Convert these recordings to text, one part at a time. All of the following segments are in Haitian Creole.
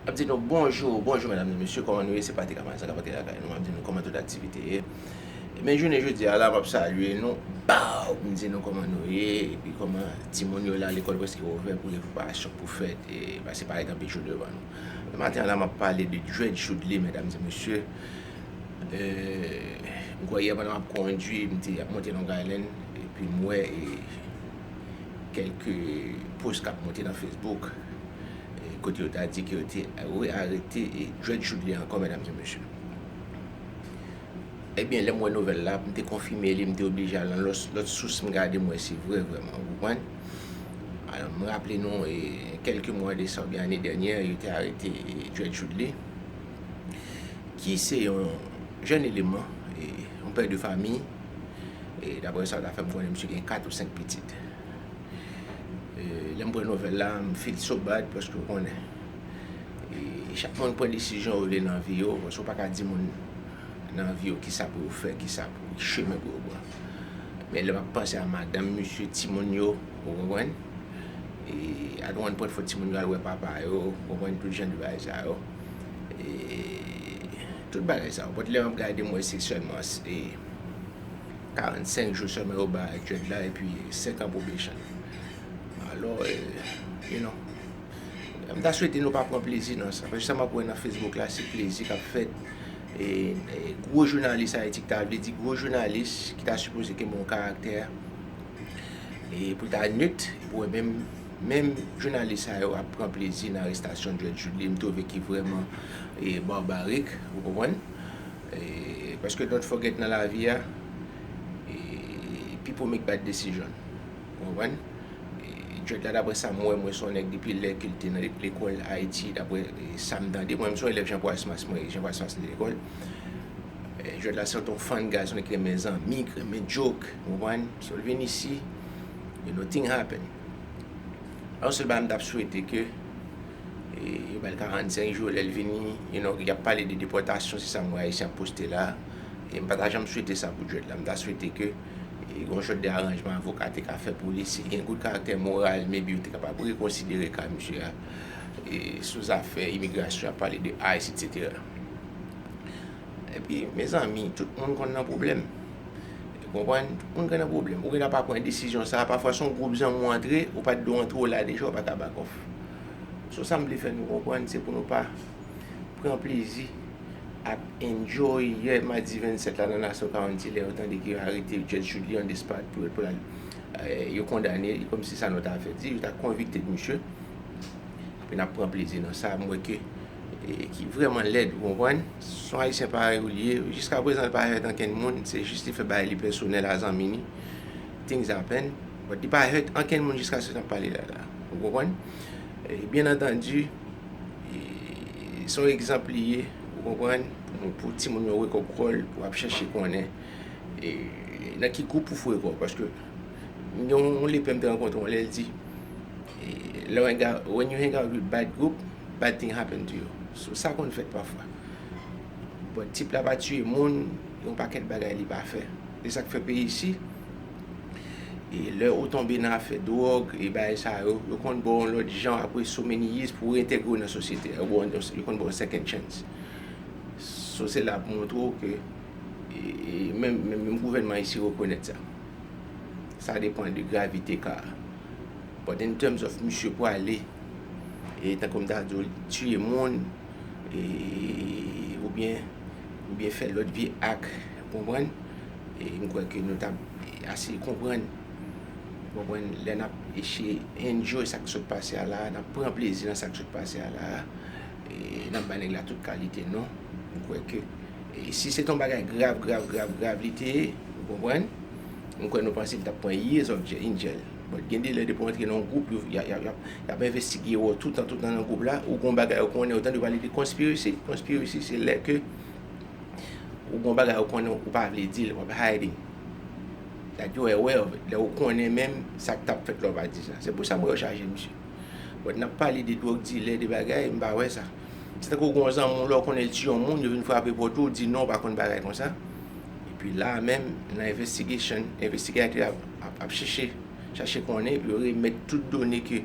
Map di nou bonjou, bonjou medam e mesye koman nou ye se Patrick Amalie Saga Patrick lakay nou map di nou koman tout aktivite ye e men jounen jodi a la map salye nou baww m di nou koman nou ye epi koman timoun yo la lekòl preske ouvè pou gen preparasyon pou fèt e paske parèt anpil jou devan nou men maten an la map pale de dread choudly medam e mesye m kwè yè pandan map kondwi m te ap monte long island epi m wè e kèlke post kap monte nan facebook. Kote yo ta di ke yo te re-arete Dred Chudley ankò medam e mesye. Ebyen lè m wè nouvèl la, m te konfime li, m te oblije al nan lòt sous m gade m wè se vre vrèman, ou konprann. Alò m raple nou e kèlke mwa de sa oubyen ane dènyè yo te arete Dred Chudley ki se yon jèn eleman, yon pè de fami e daprè sa yo ta fè m konnen misye gen 4 ou 5 pitit. Lè m pran nouvèl la, m feel so bad paske ou konnen. Chak moun pran desizyon yo vle nan vi yo, paske ou pa ka di moun nan vi yo ki sa pou yo fè, ki sa pou ki chemen pou yo pran. Men lè m ap panse a madanm misye, timoun yo, ou konprann? E a nou ann pwent fò timoun yo al wè papa yo, ou konprann tout jan de bagay sa yo. E tout bagay sa yo. Bòt lè m ap gade m wè se sèlman se. 45 jou sèlman yo bay jèj la epi 5 an probation. Alò, you know, m ta swete nou pa pran plezi nan sa. Paske sa m ap wè nan Facebook la se plezi k ap fèt. E gwo jounalis Ayiti ki ta vle di gwo jounalis ki ta sipoze gen bon karaktè e pou l ta nit, pou wè menm menm jounalis sa yo ap pran plezi nan arestasyon Jèj Jude li m twouve ki vrèman barbarik, ou konprann. Paske don't forget nan lavi a pipo make bad decision ou konprann Djed la daprè sam wè mwen son nèg depi lè kel te nan lekòl ayiti daprè sam tande mwen menm son elèv Jean Proismas mwen Jean Proismas te lekòl Djed la se ton fan gason li t renmen zanmi ki renmen djok ou konprann so l vin isi nothing happen yon sèl bagay m tap swete ke Yo bal 45 jou lèl vini you no yap pale de depòtasyon se sa m wè ayisyen ap poste la e m pa ta janm swete sa pou Jwèt la m ta swete ke gon jwèt de aranjman avoka te ka fè pou li si gen gout karaktè moral maybe yo te kapab rekonsidere ka misye a sou zafè imigrasyon ap pale de ice etc epi mezanmi tout moun konn nan pwoblèm ou konprann tout moun konn nan pwoblèm ou gen dwa pa pran desizyon sa pafwa son gwoup zanmi ou antre ou pat dwe antre ou la deja ou pa ka back off. So sa m vle fè nou konprann se pou nou pa pran plezi ak enjoy yè madi 27 la nan Nassau County lè yo tande ke yo arete Judge Julian Despard pou yo pral yo kondane li kòmsi sa nou ta fè di yo ta konvikte misye epi n ap pran plezi nan sa m wè ke ki vrèman lèd ou konprann se yon Ayisyen parèy ou li ye jiskaprezan l pa fèt ankenn moun se jis li fè bagay li pèsonèl a zanmi ni things happen. But li pa hurt ankenn moun jiska se nap pale la la. Ou konprann? Byen antandi se yon egzanp li ye, ou konprann, pou timoun yo wake up call pou ap chèche konnen nan ki gwoup pou foure kòw paske gen yon lepè m te rankontre yon lè l di lè w hang out, when you hang out with bad group, bad thing happen to you. So sa konn fèt pafwa. But tip la pa tiye moun, gen yon pakèt bagay li pa fè. E sak fè peyi isi E lè ou tonbe nan afè dwòg e bagay sa yo, yo konn ba w yon lòt jan apre so many years pou w reintegre w nan sosyete a. Yo konn ba w yon second chance. So se la pou montre w ke menm gouvènman ayisyen rekonèt sa. Sa depan de gravite ka a. But in terms of misye pwale e tankou m ta di w tiye moun e oubyen fè lòt vye ak. Konprann? E m kwè ke nou ta ase konprann, konprann, lè n ap eseye enjoy sa k sot pase a la a, n ap pran plezi nan sa k sot pase a la a, n ap bay nèg la tout kalite non. M kwè ke si se te yon bagay grav, grav, grav, grav li te ye, ou konprann, m kwè nou panse li t ap pran years of in jail. But gen de lè depi w antre nan yon gwoup, yo, y ap envestigeye w toutan, toutan nan gwoup la, ou gen yon bagay ou konnen, ou tande pale de conspiracy, conspiracy se lè ke Ou gon bagay ou konnen ou pa vle dil wap hiding that you are aware of it lè ou konnen menm sak tap fèt la ou pa di sa se pou sa m wè yo chaje misye but nap pale de drug dilè de bagay m pa wè sa se tankou ou gon zanmi w la ou konnen l tiye yon moun yo vin frape pòt ou ou di non ou pa konn bagay konsa epi la menm nan investigation investigator ap ap chèche chache konnen epi yo remèt tout done ke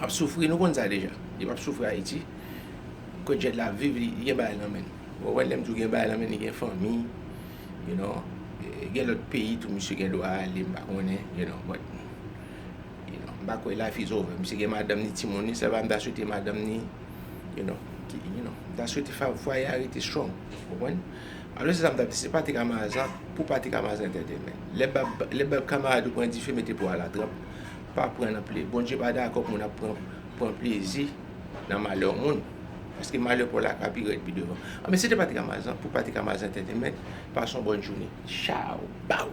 ap soufri nou konn sa deja li pap soufri ayiti Cojet la ap viv li gen bagay nan menn ou konprann lèm di w gen bagay nan menn li gen fanmi you know gen lòt peyi tou misye gen dwa ale m pa konnen you know but you know m pa kwè life is over misye gen madanm ni timoun li sèlman m ta swete madanm ni you know m ta swete fwaye a rete strong ou konprann alò se sa m tap di se pati kamazan pou pati kamazan entètenmen lè bab kamarad ou pran dife mete po a la tranp Pa pran nan pli. Bondye pa dakò pou moun ap pran plezi nan malè moun. Paske malè Pòl la ka pi rèd pi devan. Anben se te Patrik Amazan pou Patrik Amazan Entertainment. Pase yon bòn jounen. Chaw! Baww!